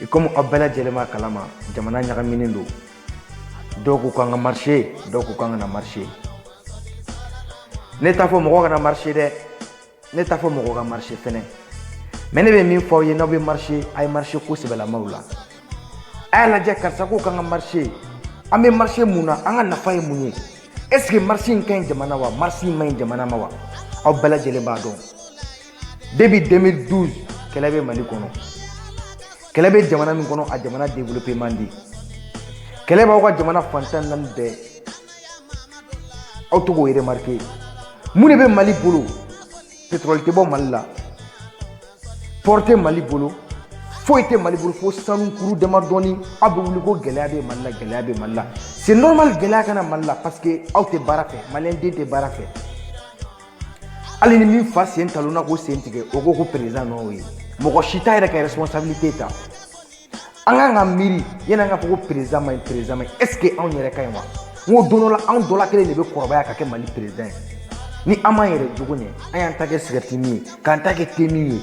I komi aw bɛɛ lajɛlen b'a kalama jamana ɲagaminen don dɔw ko k'an ka marché dɔw ko k'an kana marché ne t'a fɔ mɔgɔ kana marché dɛ ne t'a fɔ mɔgɔ ka marché fɛnɛ mais ne bɛ min fɔ aw ye n'aw bɛ marché a ye marché ko sɛbɛlamaw la a y'a lajɛ karisa ko k'an ka marché an bɛ marché mun na an ka nafa ye mun ye est ce que marché in ka ɲi jamana wa marché in ma ɲi jamana ma wa aw bɛɛ lajɛlen b'a dɔn depuis 2012 kɛlɛ bɛ mali kɔnɔ kɛlɛ bɛ jamana min kɔnɔ a jamana développé man di kɛlɛ b'aw ka jamana fan tan naani bɛɛ aw to k'o remarqué mun de bɛ mali bolo pétrole tɛ bɔ mali la port tɛ mali bolo foyi tɛ mali bolo fo sanu kuru dama dɔɔni aw bɛ wuli ko gɛlɛya bɛ mali la gɛlɛya bɛ mali la c'est normal gɛlɛya ka na mali la parce que aw tɛ baara fɛ maliyɛnden tɛ baara fɛ hali ni min fa sen talonna k'o sen tigɛ o ko ko président nɔ ye mɔgɔ si t'a yɛrɛ ka responsabilité ta an kan ka miiri yanni an ka fɔ ko président man ɲi président man ɲi est ce que anw yɛrɛ ka ɲi wa n ko don dɔ la anw dɔ la kelen de bɛ kɔrɔbaya ka kɛ mali président ye ni an m'an yɛrɛ jogo ɲɛ an y'an ta kɛ cigarette min ye k'an ta kɛ thé min ye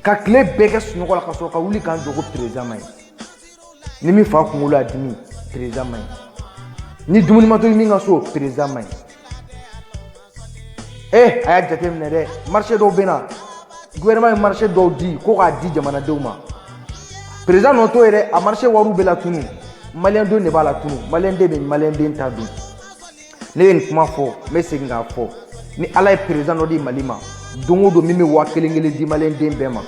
ka tile bɛɛ kɛ sunɔgɔ la ka sɔrɔ ka wuli k'an jɔ ko président man ɲi ni min fa kunkolo y'a dimi président man ɲi ni dumuni ma tobi min ka so président man ɲi ee eh, a y'a jateminɛ dɛ marché dɔw bɛ na gouvernement ye marché dɔw di ko k'a di jamanadenw ma président nɔ t'o ye dɛ a marché wariw bɛ latunun maliyɛn denw de b'a latunun maliyɛn den bɛ maliyɛn den ta dun ne ye nin kuma fɔ n bɛ segin k'a fɔ ni ala ye président dɔ di mali ma don o don min bɛ waa kelen kelen di maliyɛnden bɛɛ ma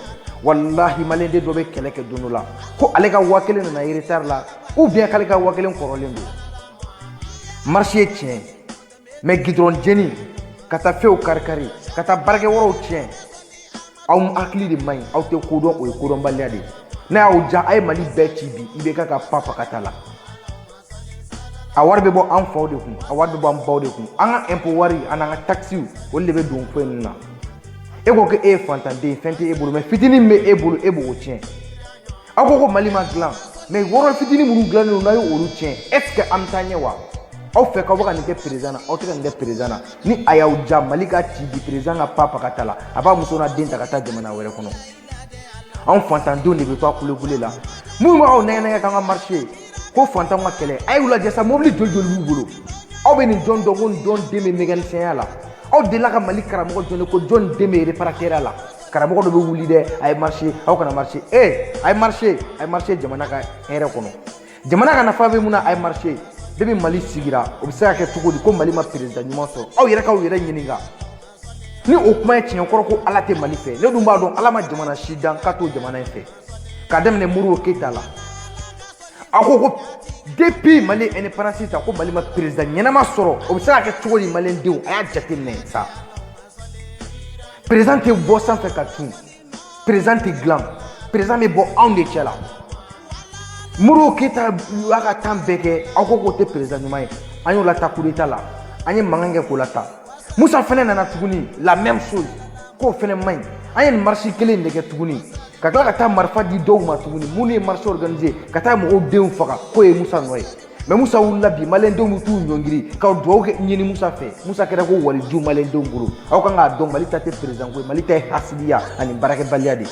walahi maliyɛnden dɔ bɛ kɛlɛ kɛ don dɔ la ko ale ka waa kelen nana retard la ou bien k'ale ka waa kelen kɔrɔlen don marché ye tiɲɛ mais goudron jeni ka taa fɛnw karikari ka taa baarakɛ wɔrɔw tiɲɛ aw hakili de man ɲi aw tɛ kodɔn o ye kodɔnbaliya de ye n'a y'aw diya a ye mali bɛɛ ci bi IBK ka pan fakata la a wari bɛ bɔ an faw de kun a wari bɛ bɔ an baw de kun an ka impôt wari an n'an ka taxes olu de bɛ don ko in na e ko ko e ye fantanden ye fɛn tɛ e bolo mais fitinin min bɛ e bolo e b'o tiɲɛ aw ko ko mali ma dilan mais wɔrɔ fitinin minnu dilannen don n'a ye olu tiɲɛ est ce que an bɛ taa ɲɛ wa aw fɛ k'aw bɛ ka nin kɛ président na aw tɛ ka nin kɛ président na ni a y'aw diya mali ka ci bi président ka pa pakata la a b'a muso n'a den ta ka taa jamana wɛrɛ kɔnɔ anw fantandenw de bɛ to kulukulu la minnu b'aw nɛgɛn k'an ka marché ko fantanw ka kɛlɛ a y'u lajɛ sa mobili den joli b'u bolo aw bɛ nin jɔn dɔn ko jɔn den bɛ mécanicienya la aw delila ka mali karamɔgɔ jɔn ko jɔn den bɛ réparateurya la karamɔgɔ dɔ bɛ wuli dɛ a ye marché aw kana marché ee a ye marché a ye marché jamana ka hɛrɛ kɔnɔ jamana ka nafa bɛ min na a ye marché depuis mali sigira o bɛ se ka kɛ cogo di ko mali ma président ɲuman sɔrɔ aw yɛrɛ k'aw yɛrɛ ɲininka ni o kuma ye tiɲɛ kɔrɔ ko ala tɛ mali fɛ ne dun b'a dɔn ala ma jamana si dan ka to jamana in fɛ k'a daminɛ modibo keyita la a ko ko depuis mali indépendance ta ko mali ma président ɲɛnama sɔrɔ o bɛ se ka kɛ cogo di maliyɛndenw a y'a jateminɛ sa président tɛ bɔ sanfɛ ka tun président tɛ dilan président bɛ bɔ anw de cɛ la modibo keyita y'a ka temps bɛɛ kɛ aw ko k'o tɛ président ɲuman ye an y'o lata coup d'état la an ye mankan kɛ k'o lata musa fɛnɛ nana tuguni la même chose k'o fɛnɛ man ɲi an ye nin marche kelen de kɛ tuguni ka tila ka taa marifa di dɔw ma tuguni minnu ye marche organiser ka taa mɔgɔw denw faga k'o ye musa nɔ ye mais musa wulila bi maliyɛndenw bɛ t'u ɲɔngiri ka dugawu kɛ ɲini musa fɛ musa kɛra ko waliju maliyɛndenw bolo aw kan k'a dɔn mali ta tɛ président ko ye mali ta ye hasidiya ani baarakɛbaliya de ye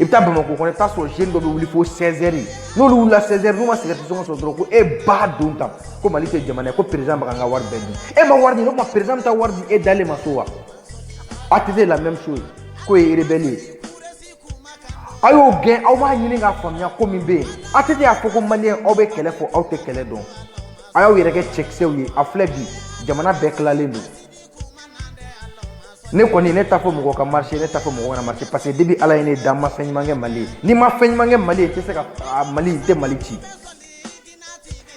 i bɛ taa bamakɔ kɔnɔ i bɛ taa sɔrɔ jeune dɔ bɛ wuli fo 16 heures n'olu wulila 16 heures n'u ma cigarette sɔngɔ sɔrɔ dɔrɔn ko e ba don tan ko mali tɛ jamana ye ko président bɛ ka n ka wari bɛɛ dun e ma wari di ne ko président bɛ taa wari di e dalen ma so wa ATT la même chose k'o ye rebelle ye a y'o gɛn aw b'a ɲini k'a faamuya ko min bɛ yen ATT y'a fɔ ko maliyɛn aw bɛ kɛlɛ fɔ aw tɛ kɛlɛ dɔn a y'aw yɛrɛ kɛ cɛkisɛw ye a filɛ bi jamana bɛɛ tilalen don ne kɔni ne t'a fɔ mɔgɔ ka marché ne t'a fɔ mɔgɔ kana marché parce que depuis ala ye ne da n ma fɛn ɲuman kɛ mali ye ni n ma fɛn ɲuman kɛ mali ye n tɛ se ka mali n tɛ mali ci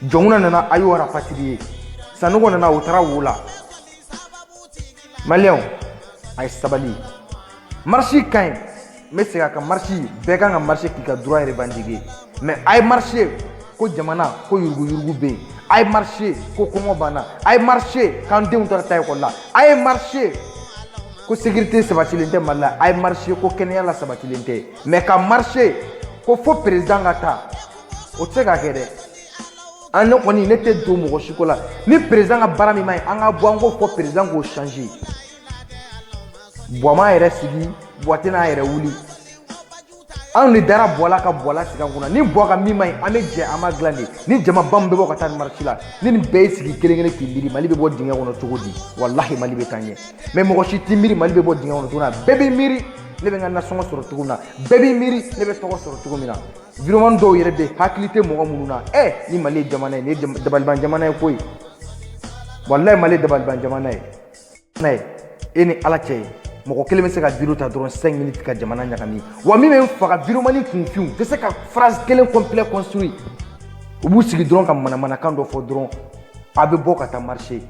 jɔnkunda nana a y'o rapatrier sanɔgɔ nana o taara wo la maliyɛnw a ye sabali marché ka ɲi n bɛ segin a kan marché bɛɛ kan ka marché k'i ka droit revendiquer mais a ye marché ko jamana ko yuruguyurugu bɛ yen a ye marché ko kɔngɔ banna a ye marché k'an denw taara taa ekɔli la a ye marché ko sécurité sabatilen tɛ mali la a ye marché ko kɛnɛya la sabatilen tɛ mais ka marché ko fo président ka taa o tɛ se ka kɛ dɛ an ne kɔni ne tɛ don mɔgɔ si ko la ni président ka baara min man ɲi an ka bɔ an k'o fɔ président k'o changer buwa m'a yɛrɛ sigi buwa tɛna a yɛrɛ wuli anw de dara buwa la ka buwa lasigi an kunna ni buwa ka min man ɲi an bɛ jɛ an b'a dilan de ni jama ba min bɛ bɔ ka taa nin marche la ni nin bɛɛ y'i sigi kelen kelen k'i miiri mali bɛ bɔ dingɛ kɔnɔ cogo di walahi mali bɛ taa ɲɛ mais mɔgɔ si t'i miiri mali bɛ bɔ dingɛ kɔnɔ cogo min na bɛɛ b'i miiri ne bɛ n ka nasɔngɔ sɔrɔ cogo min na bɛɛ b'i miiri ne bɛ tɔgɔ sɔrɔ cogo min na vidéoman dɔw yɛrɛ bɛ hakili tɛ mɔgɔ minnu na ɛ ni mali ye jamana ye nin dabaliban jamana ye koyi walahi mali dabaliban jamana ye ye e ni ala cɛ mɔgɔ kelen bɛ se ka vidéo ta dɔrɔn 5 minutes ka jamana ɲagami wa min bɛ n faga vidéoman nin kunfinw tɛ se ka phrase kelen complet construire u b'u sigi dɔrɔn ka manamanakan dɔ fɔ dɔrɔn a bɛ bɔ ka taa marché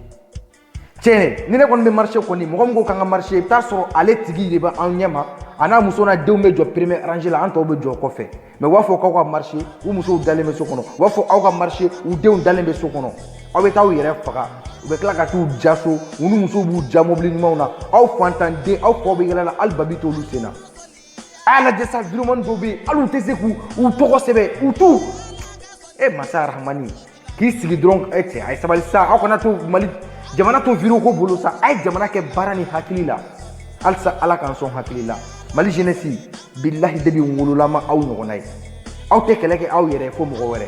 tiɲɛ ni ne kɔni bɛ marise kɔni mɔgɔ min ko k'an ka marise i bɛ t'a sɔrɔ ale tigi de bɛ an ɲɛ ma a n'a muso n'a denw bɛ jɔ peremiye aranze la an tɔw bɛ jɔ kɔfɛ mɛ u b'a fɔ k'aw ka marise u musow dalen bɛ so kɔnɔ u b'a fɔ aw ka marise u denw dalen bɛ so kɔnɔ aw bɛ taa aw yɛrɛ faga u bɛ tila ka t'u ja so u ni musow b'u ja mobili ɲumanw na aw fantanden aw faw bɛ yaala la hali babi t'olu sen na a y'a lajɛ sa wideyomani dɔw bɛ yen hali u tɛ se k'u tɔgɔ sɛbɛn u t'u e masa arahamani k'i sigi dɔrɔn e cɛ a ye sabali sa aw kana to mali jamana to wideyo ko bolo sa a ye jamana kɛ baara ni hakili la halisa ala k'an sɔn hakili la mali jenɛsi bilahi kabi n wolola n ma aw ɲɔgɔnna ye aw tɛ kɛlɛ kɛ aw yɛrɛ fo mɔgɔ wɛrɛ